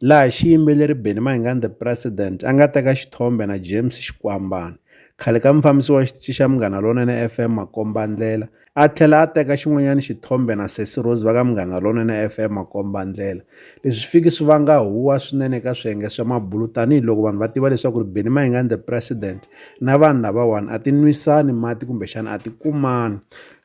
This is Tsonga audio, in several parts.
laha xiyimbeleri Benny Mayengani the President a nga teka xithombe na James Xikwambana khale ka mufambisi wa xitichi xa Munghana Lonene FM Makombandlela a tlhela a teka xin'wanyana xithombe na Sesi Rose va ka Munghana Lonene FM Makombandlela leswi swi fiki swi vanga huwa swinene eka swiyenge swa mabulu tanihiloko vanhu va tiva leswaku ri Benny Mayengani the President na vanhu lavawani a ti nwisani mati kumbexana a ti kumani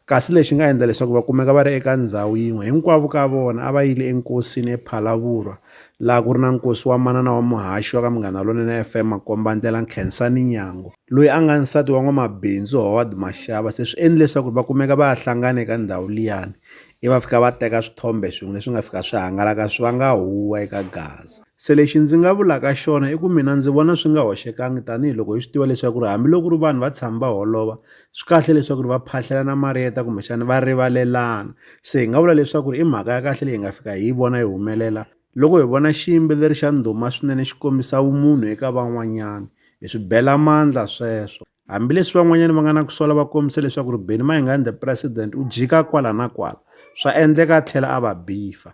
Kasi lexi nga endla leswaku va kumeka va ri eka ndzhawu yin'we, hinkwavo ka vona a va yile enkosini ePhalavurwa, laha ku ri na nkosi wa manana wa muhaxi wa ka Munghana Lonene FM Makombandlela Nkhensani Nyango, loyi a nga nsati wa n'wamabindzu Howard Mashava, se swi endle leswaku va kumeka va ha hlangane eka ndzhawu liyani, ivi va fika va teka swithombe swin'we leswi nga fika swi hangalaka swi vanga huwa eka Gaza. Se lexi ndzi nga vulaka xona i ku mina ndzi vona swi nga hoxekangi tanihi loko hi swi tiva leswaku ri hambi loko ku ri vanhu va tshami va holova, swi kahle leswaku ri va phahlelana mariyeta kumbexana va rivalelana se hi nga vula leswaku ri i mhaka ya kahle leyi nga fika hi vona yi humelela loko hi vona xiyimbeleri xa ndhuma swinene xi kombisa vumunhu eka van'wanyana hi swi bela mandla sweswo hambileswi van'wanyana va nga na ku sola va kombisa leswaku ri beni mayingani the president u jika kwala na kwala swa endleka a tlhela a va bifa